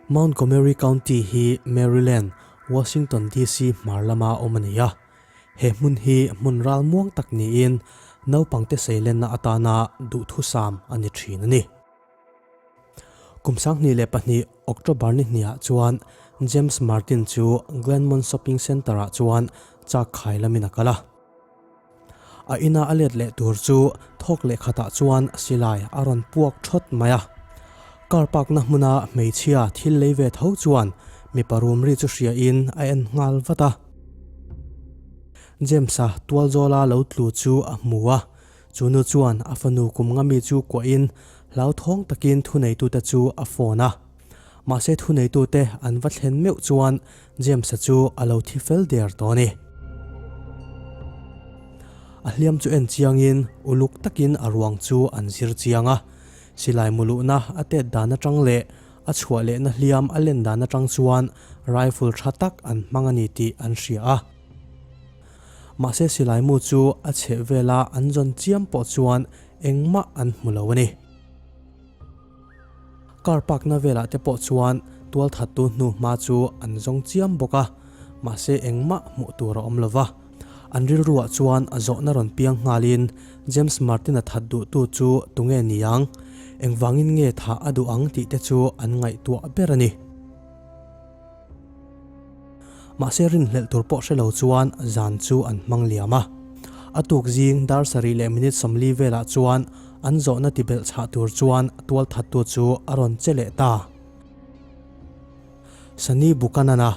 Montgomery County hi Maryland, Washington DC hmar lama awm a ni a, he hmun hi hmun ral muang tak niin naupangte seilenna atana duhthusam a ni thin a ni. Kum sanghnih leh pahnih October nihniah chuan James Martin chu Glenmont Shopping Centre-ah chuan chakkhai lamin a kal a. A ina a let leh tur chu thawk leh khatah chuan silai a rawn puak thawt mai a. Car parkna hmuna hmeichhia thil lei ve tho chuan mipa rumri chu hriain a en nghal vat a. James-a tual zawla lo tlu chu a hmu a, chu nu chuan a fanu kum ngami chu kuahin hlauthawng takin thuneitute chu a phone a. Mahse thuneitute an va thlen meuh chuan James-a chu a lo thi fel der tawh a ni. A hliam chu en chiangin uluk takin a ruang chu an zir chiang a. Silai muluhna a tet dan atang leh a chhuah lehna hliam a len dan atang chuan rifle tha tak an hmang a ni tih an hria a. Mahse silaimu chu a chheh vela an zawn chiam pawh chuan engmah an hmu lo a ni. Car parkna velah te pawh chuan tualthattu hnu hma chu an zawng chiam bawk a, mahse engmah hmuh tur a awm lo va. An rilruah chuan a zawhna rawn piang nghalin James Martin-a that duhtu chu tunge ni ang, engvangin nge thah a duh ang tih te chu an ngaihtuah ber a ni. Mahse rin hlelh tur pawh hre lo chuan zan chu an hmang liam a. A tuk zing dar sarih leh minute sawmli velah chuan an zawhna ti belh chhah tur chuan tual thattu chu a rawn che leh ta. Sani Buchanana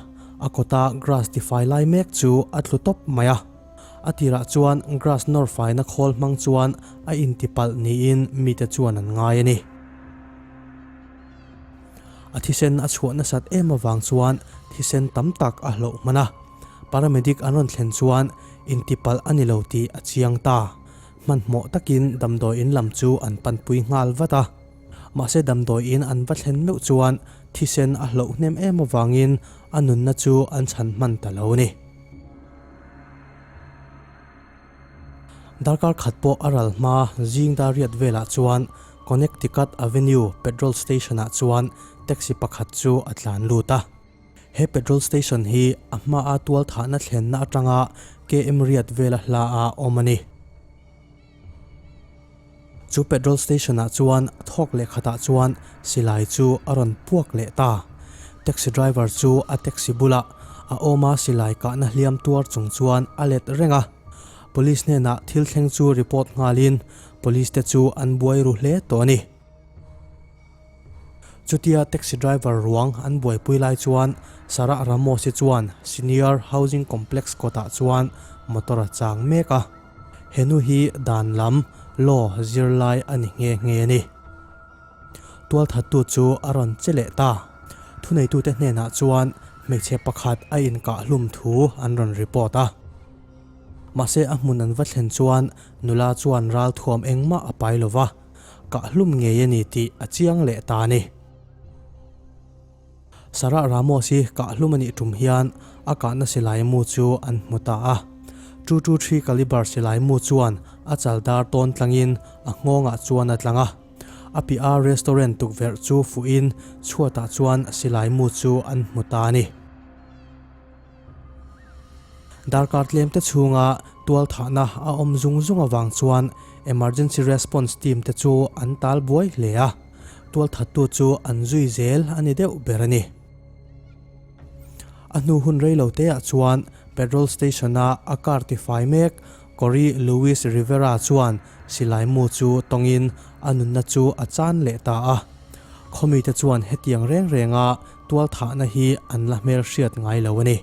a kawta grass ti fai lai mek chu a tlu tawp mai a. A tirah chuan grass nawr faina khawl hmang chuan a inti palh niin mite chuan an ngai a ni. A thisen a chhuah nasat em avang chuan thisen tam tak a hlauh hman a, paramedic an rawn thlen chuan intipalh a ni lo tih a chiang ta. Hmanhmawh takin damdawi in lam chu an panpui nghal vat a. Mahse damdawi in an va thlen meuh chuan thisen a hlauh hnem em avangin a nunna chu an chhan hman ta lo a ni. Darkar khat pawh a ral hma zing dariat velah chuan Connecticut Avenue petrol station-ah chuan taxi pakhat chu a tlan lut a. He petrol station hi a hmaa tualthahna thlenna atanga KM riat vela hla a awm a ni. Chu petrol station ah chuan a thawk leh khatah chuan silai chu a rawn puak leh ta. Taxi driver chu a taxi bulah a awma silai kahna hliam tuar chung chuan a let reng a. Police hnenah thil thleng chu report nghalin police te chu an buai ru hle tawh a ni. Chutia taxi driver ruang an buaipui lai chuan Sarah Ramose chuan Senior Housing Complex kawtah chuan motor a chang mek a. Henu hi dan lam law zir lai a ni nge nge ni? Tualthattu chu a rawn che leh ta. Thuneitute hnenah chuan hmeichhe pakhat a inkahlum thu an rawn report a. Mahse a hmun an va thlen chuan nula chuan ral thuam engmah a pai lo va. Kah hlum ngei a ni tih a chiang leh ta ni. Sarah Ramos hi kah hlum a nih tum hian a kahna silai mu chu an hmu ta a. Two two three caliber silai mu chuan a chal dar tawn tlangin a nghawngah chuan a tlang a. A piah a restaurant tukverh chu fuhin chhuatah chuan silai mu chu an hmu ta a ni. Darkar tlemte chhunga tualthahna a awm zung zung avang chuan Emergency Response Team te chu an tal buai hle a, tualthattu chu an zui zel a ni deuh ber a ni. A hnu hun rei lo teh ah chuan Petrol Station a a car ti fai mek Cory Louis Rivera chuan silai mu chu tawngin a nunna chu a chan leh ta a. Khawmite chuan hetiang reng renga Tualthahna hi an la hmelhriat ngai lo a ni.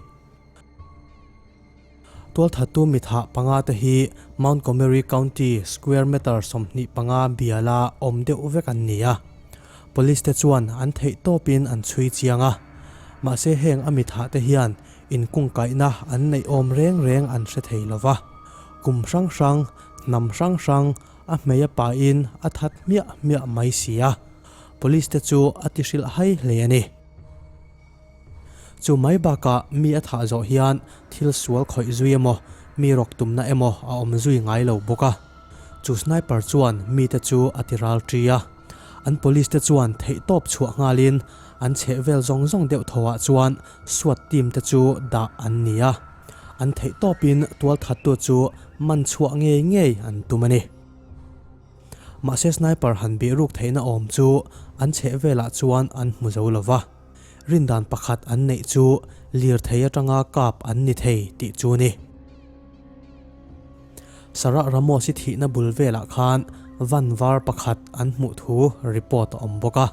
Tualthattu mitha panga te hi Montgomery County square meter sawmhnih panga biala awm deuh vek an ni a. Police te chuan an theih tawpin an chhui chiang a. Mahse heng a mitha te hian in kungkaihna an neih awm reng reng an hre thei lo va. Kum hrang hrang, hnam hrang hrang a hmei a pahin a that hmiah hmiah mai si a. Police te chu a ti hrilh hai hle a ni. Chu mai bakah mi a thah zawh hian thil sual khawih zui emaw, mi rawk tumna emaw a awm zui ngai lo bawk a. Chu sniper chuan mite chu a ti ral ṭi a. An Police te chuan theihtawp chhuah nghalin an chheh vel zawng zawng deuh tho ah chuan Swat team te chu dah an ni a. An theihtawpin tualthattu chu man chhuah ngei ngei an tum a ni. Mahse sniper han beh ruk theihna awm chu an chheh velah chuan an hmu zo lo va, rindan pakhat an neih chu Lirthei atanga kap an ni thei tih chu ni. Sarah Ramos i thihna bul velah khan van var pakhat an hmuh thu report a awm bawk a,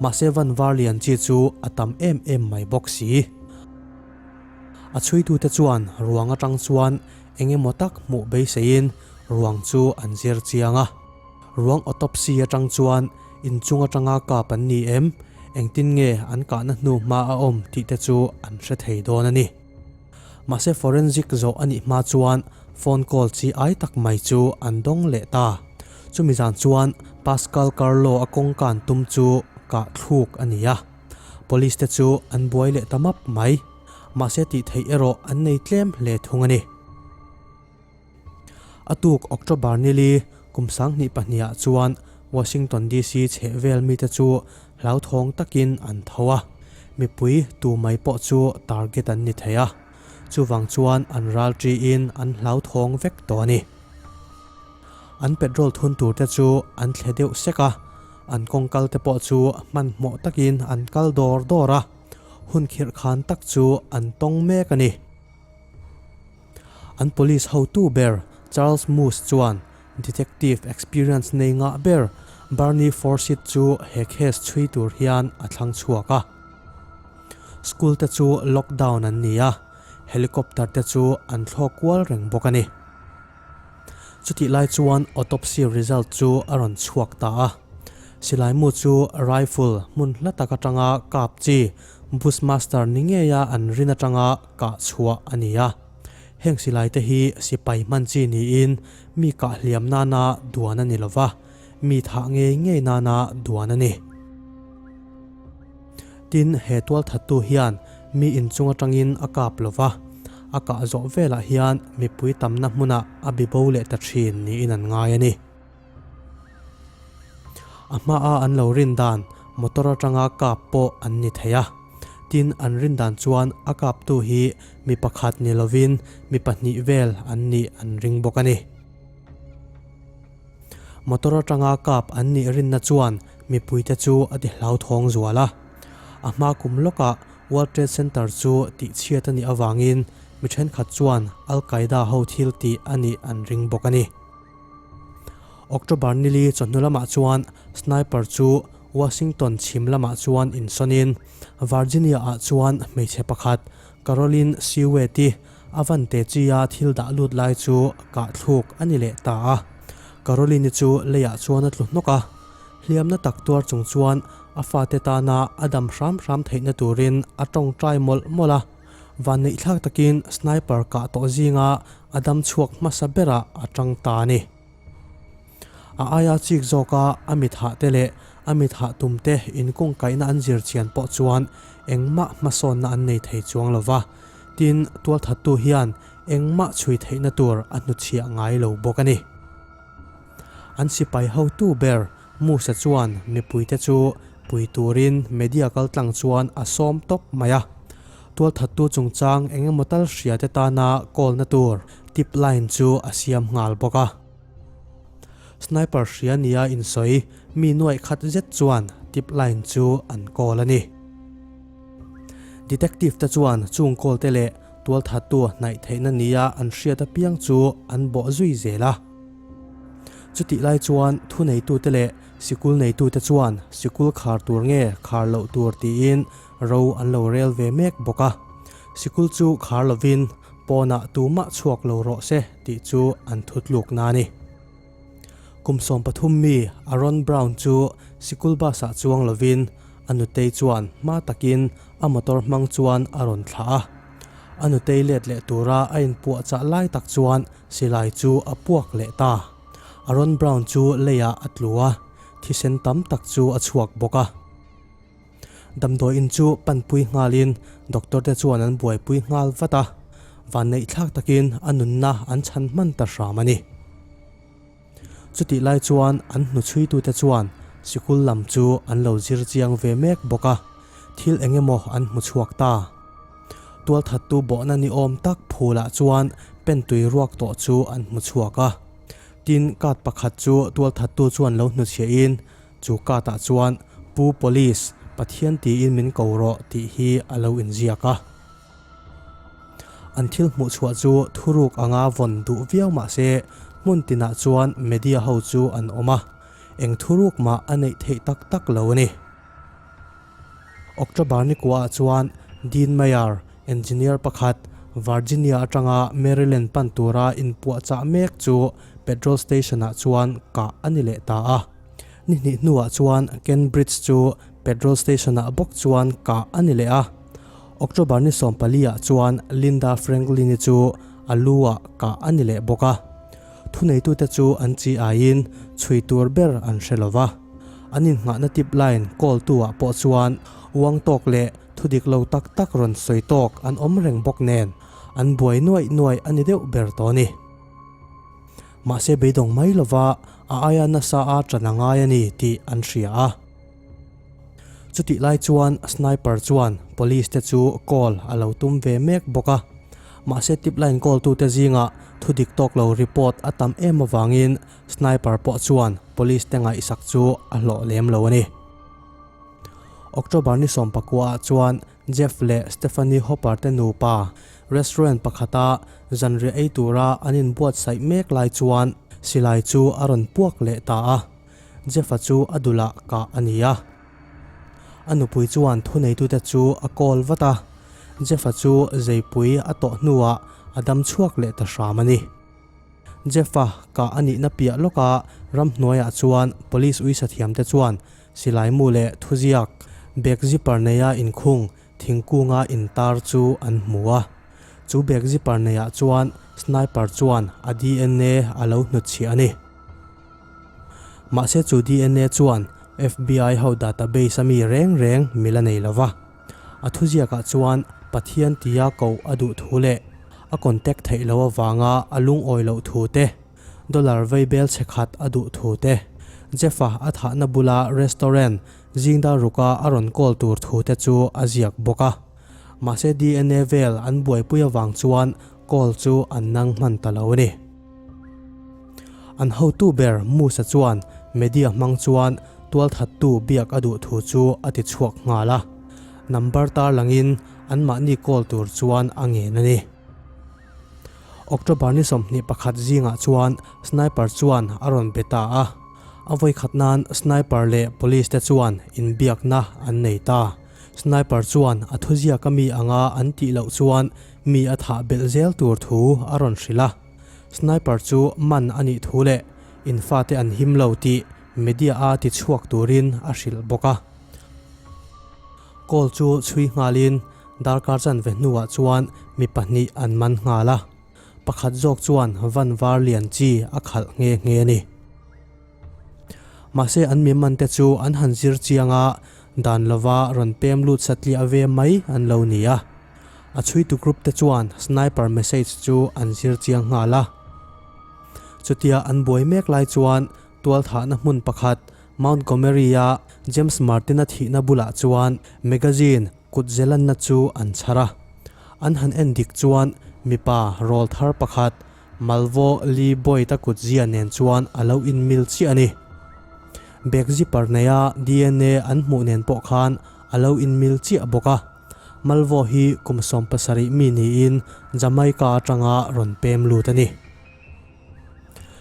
mahse van var lian chi chu a tam em em mai bawk si. A chhuitute chuan ruang atang chuan eng emaw tak hmuh beiseiin ruang chu an zir chiang a. Ruang autopsy atang chuan inchung atanga kap an ni em, engtin nge an kahna hnu hma a awm tih te chu an hre thei dawn a ni. Mahse forensic zawh a nih hma chuan phone call chi ai tak mai chu an dawng leh ta. Chumi zan chuan Pascal Carlo a kawngka an tum chu kah thluk a ni a, police te chu an buai leh ta map mai. Mahse tih theih erawh an nei tlem hle thung a ni. A tuk October nili kum sanghnih pahniha chuan Washington DC chheh vel mite chu hlauthawng takin an tho a, mipui tu mai pawh chu target an ni thei a, chuvang chuan an ral ṭiin an hlauthawng vek tawh a ni. An petrol thun tur te chu an thle deuh sek a, an kawngkal te pawh chu hmanhmawh takin an kal dawr dawr a. hun khirh khan tak chu an tawng mek a ni. An police hotu ber Charles Moose chuan detective experience nei ngah ber Barney Forsyth chu he case chhui tur hian a thlang chhuak a. School te chu lockdown an ni a, helicopter te chu an thlawk kual reng bawk a ni. Chutih lai chuan autopsy result chu a rawn chhuak ta a. Silaimu chu rifle hmun hla tak atanga kap chi Bushmaster ni ngeia an rin atanga kah chhuah a ni a. Heng silai te hi sipai hman chi niin mi kah hliam nana duan a ni lo va. Mi thah ngei ngei nana duan a ni. Tin, he tual thattu hian mi inchung atangin a kap lo va, a kah zawh velah hian mipui tamna hmuna a bibo leh ta thin niin an ngai a ni. A hmaa an lo rin dan motor atanga kap pawh an ni thei a. Tin, an rin dan chuan a kaptu hi mi pakhat ni lovin mi pahnih vel an nih an ring bawk a ni. Motor atanga kap an nih rinna chuan mipuite chu a ti hlauthawng zual a. A hma kum lawkah World Trade Center chu tihchhiat a nih avangin mi thenkhat chuan Al-Qaeda ho thil tih a nih an ring bawk a ni. October nili chawhnu lamah chuan sniper chu Washington chhim lamah chuan insawnin Virginia-ah chuan hmeichhe pakhat Carolyn Sieue tih Avante chi-a thil dah lut lai chu kahthluk a ni leh ta a. Caroline-i chu leiah chuan a tlu hnawk a. Hliamna tak tuar chung chuan a fate tana a dam hram hram theihna turin a tawngtai mawlh mawlh a. Vannei thlak takin sniper kah tawh zinga a dam chhuak hmasa berah a tang ta a ni. A aia chik zawka a mithah te leh a mithah tum te in kawngkaihna an zir chian pawh chuan engmah hmasawnna an nei thei chuang lo va, tin, tualthattu hian engmah chhui theihna tur a hnuchhiah ngai lo bawk a ni. An sipai hotu ber Musa chuan mipui te chu pui turin media kal tlang chuan a sawm tawp mai a. Tualthattu chungchang eng emaw tal hria te tana call-na tur, Tip line chu a siam nghal bawk a. Sniper hria nia insawi mi nuaih khat zet chuan tip line chu an call a ni. Detective te chuan chung call te leh tualthattu hnaih theihna nia an hriat apiang chu an bawh zui zel a. Chutih lai chuan thuneitute leh sikul neitute chuan sikul khar tur nge khar loh tur tiin Ro an lo rel ve mek bawk a, sikul chu khar lovin pawnah tumah chhuak lo rawh se tih chu an thu tluk na a ni. Kum sawm pathum mi Aaron Brown chu sikul bus-ah chuang lovin a nutei chuan hma takin a motor hmang chuan a rawn thlah a. A nutei let leh tura a inpuahchah lai tak chuan silai chu a puak leh ta. Aaron Brown chu leiah a tlu a, thisen tam tak chu a chhuak bawk a. Damdawiin chu pan pui nghalin doctor te chuan an buaipui nghal vat a, vanneih thlak takin a nunna an chhan hman ta hram a ni. Chutih lai chuan an hnuchhuitute chuan sikul lam chu an lo zir chiang ve mek bawk a, thil eng emaw an hmu chhuak ta. Tualthattu bawhna ni awm tak phulah chuan pentui ruak tawh chu an hmu chhuak a, tin card pakhat chu tualthattu chuan lo hnuchhiahin, Chu kâtah chuan Pu Police, Pathian tiin min ko rawh tih hi a lo inziak a. An thil hmuh chhuah chu thurûk anga vawn duh viau mah se, hmun tinah chuan media ho chu an awm a, eng thurûk mah a neih theih tak tak lo a ni. October ni kuaha chuan Dean Mayer, engineer pakhat, Virginia atanga Maryland pan tura inpuahchah mek chu petrol station-ah chuan kah a ni leh ta a. Ni hnih hnuah chuan Kent Bridge chu petrol station-ah bawk chuan kah a ni leh a. October ni sawmpaliah chuan Linda Franklini chu a lu-ah kah a ni leh bawk a. Thuneitute chu an chi aiin chhui tur ber an hre lo va, an innghahna tip line call-tu ah pawh chuan uang tawk leh thudik lo tak tak rawn sawi tawk an awm reng bawk nen an buai nuaih nuaih a ni deuh ber tawh a ni. Mahse beidawng mai lova a aia nasa a tan a ngai a ni tih an hria a. Chutih lai chuan sniper chuan police te chu call a lo tum ve mek bawk a. Mahse tip line call tu te zingah thu dik tawk lo report a tam em avangin sniper pawh chuan police te ngaihsak chu a hlawh lem lo a ni. October ni sawm pakua ah chuan Jeff leh Stephanie Hopper te nupa restaurant pakhata zanriah ei tura an in buatsaih mek lai chuan silai chu a rawn puak leh ta a. Jeff-a chu a dulah kah a ni a. A nupui chuan thuneitute chu a call vat a, Jeff-a chu zeipui a tawh hnuah a dam chhuak leh ta hram a ni. Jeff-a kah a nihna piah lawka ramhnuaiah chuan police uisa thiamte chuan silaimu leh thuziak bag zipper neia inkhung thingkunga intar chu an hmu a. Chu bag zipper neiah chuan sniper chuan a DNA a lo hnutchhiah a ni. Mahse chu DNA chuan FBI ho database a mi reng reng mi la nei lova. A thuziakah chuan Pathian tia ko a duh thu leh a contact theih loh avanga a lungawi loh thu te, dollar vei bel chhe khat a duh thu te, Jeff-a a thahna bula restaurant zingdar ruka a rawn call tur thu te chu a ziak bawk a. Mahse DNA vel an buaipui avang chuan call chu an nang hman ta lo a ni. An hotu ber Musa chuan media hmang chuan tualthattu biak a duh thu chu a ti chhuak nghal a, number tarlangin anmahni call tur chuan a ngen a ni. October ni sawmhnih pakhat zingah chuan sniper chuan a rawn be ta a, a vawikhat nan sniper leh police te chuan inbiakna an nei ta. Sniper chuan a thuziak a mi anga an tih loh chuan Mi a thah belh zel tur thu a rawn hrilh a, sniper chu man a nih thu leh infate an him lo tih media-a tichhuak turin a hrilh bawk a. Call chu chhui nghalin darkar chan ve hnuah chuan mi pahnih an man nghal a, pakhat zawk chuan Vanvarlian chi a khalh nge nge a ni. Mahse an miman te chu an han zir chiang a, dan lova rawn pem lut satliah ve mai an lo ni a. A chhuitu group te chuan sniper message chu an zir chiang nghal a. Chutia an buai mek lai chuan tualthahna hmun pakhat Montgomery-a James Martin-a thihna bulah chuan magazine kut zelanna chu an chhar a. An han en dik chuan mipa rawl thar pakhat Malvo Li Boita kut zia nen chuan a lo inmil chiah a ni. Bag zipper neia DNA an hmuh nen pawh khan a lo inmil chiah bawk a. Malvo hi kum sawm pasarih mi niin Jamaica atanga rawn pem lut a ni.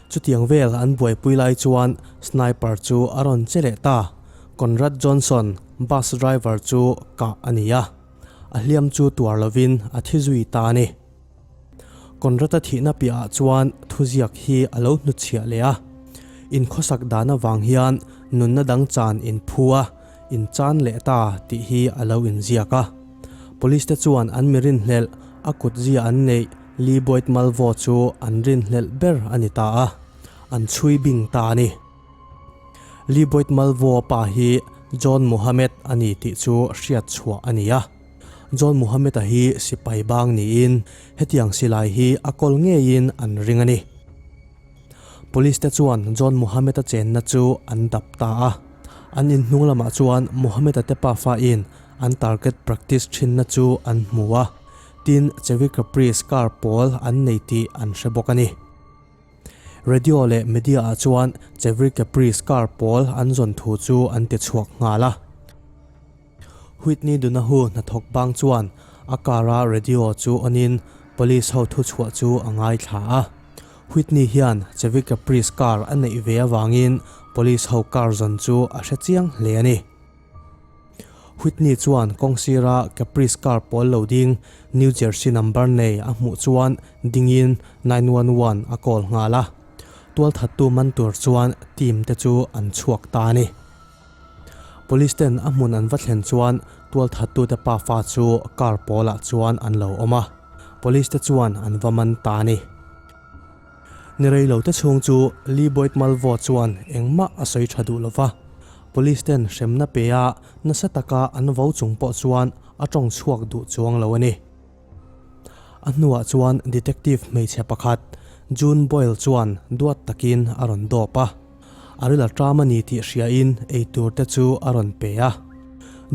Chutiang vel an buaipui lai chuan sniper chu a rawn che leh ta. Conrad Johnson, bus driver chu kah a ni a, a hliam chu tuar lovin a thi zui ta a ni. Conrad-a thihna piahah chuan thuziak hi a lo hnuchhiah leh a. Inkhawsak dan avang hian nunna dang chan in phu a, in chan leh ta tih hi a lo inziak a. Police-te chuan an mi rinhlelh, a kut zia an neih, Lee Boyd Malvo chu an rinhlelh ber a ni ta a, an chhui bing ta a ni. Lee Boyd Malvo-a pa hi John Mohammed a ni tih chu hriatchhuah a ni a. John Muhammad-a hi sipai bang niin hetiang silai hi a kawl ngeiin an ring a ni. Police-te chuan John Muhammad-a chenna chu an dap ta a. An in hnung lamah chuan Muhammad-a tepa fain an target practice thinna chu an hmu a, tin Chevi Capri scar pawl an nei tih an hre bawk a ni. Radio leh media-ah chuan Chevi Capri scar pawl an zawn thu chu an ti chhuak nghal a. Whitney Dunahu hnathawk bang chuan a kara radio chu on in police ho thuchhuah chu a ngaithla a. Whitney hian Chevy Caprice car a neih ve avangin police ho car zawn chu a hre chiang hle a ni. Whitney chuan kawng sira Caprice car pawl lo ding New Jersey number nei a hmuh chuan dingin nine one one a call nghal a. Tualthattu man tur chuan team te chu an chhuak ta a ni. Police ten a hmun an va thlen chuan tualthattute pa fa chu car pawlah chuan an lo awm a, Police te chuan an va man ta a ni. Ni rei lo te chhung chu Lee Boyd Malvo chuan engmah a sawi tha duh lo va, Police ten hremna pe a nasa taka an vo chung pawh chuan a tawng chhuak duh chuang lo a ni. A hnuah chuan Detective hmeichhe pakhat June Boyle chuan duat takin a rawn dawp a, a ril a ṭam a ni tih hriain eitur te chu a rawn pe a.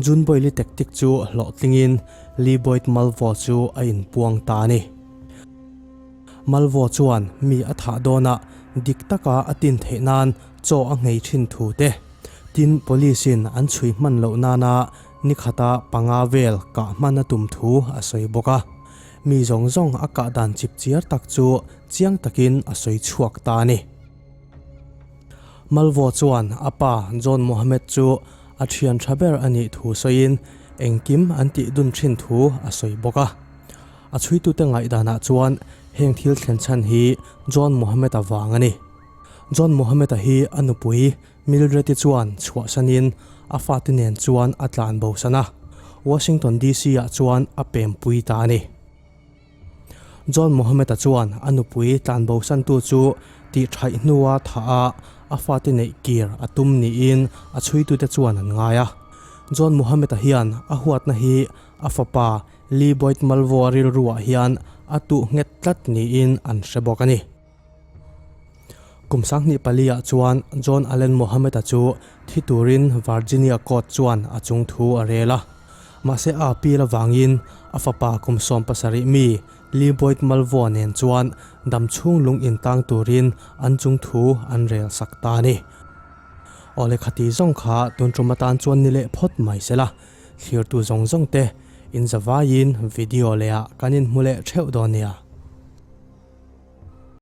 June Boyle-i tek tik chu hlawhtlingin Lee Boyd Malvo chu a inpuang ta a ni. Malvo chuan mi a thah dawnah dik taka a tin theih nan chaw a nghei ṭhin thu te tin police-in an chhui hman loh nana ni khata panga vel kah hman a tum thu a sawi bawk a, mi zawng zawng a kah dan chip chiar tak chu chiang takin a sawi chhuak ta a ni. Malvaw chuan a pa John Mohammed chu a thian tha ber a nih thu sawiin engkim an tih dun thin thu a sawi bawk a. A chhuitute ngaihdanah chuan heng thil thlen chhan hi John Mohammed-a vang a ni. John Mohammed-a hi a nupui, Mildred-i chuan chhuahsanin a fate nen chuan a tlan bo san a, Washington DC-ah chuan a pempui ta a ni. John Mohammed-a chuan a nupui tlan bo santu chu tih thaih hnua thah a a fate neih kir a tum niin a chhuitute chuan an ngai a. John Mohammed-a hian a huatna hi a fapa Lee Boyd Malvo-a rilruah hian a tuh nghet tlat niin an hre bawk a ni. Kum sanghnih pali ah chuan John Allen Mohammed-a chu thi turin Virginia Court chuan a chung thu a rel a. Mahse a appeal avangin a fapa kum sawm pasarih mi Lee Boyd Malvo nen chuan dam chhung lung in tlang turin an chung thu an rel sak ta a ni. Aw le khati zawng kha tun ṭum atan chuan ni leh phawt mai se la, thlirtu zawng zawng te in zavaiin video leh ah kan in hmu leh ṭheuh dawn nia.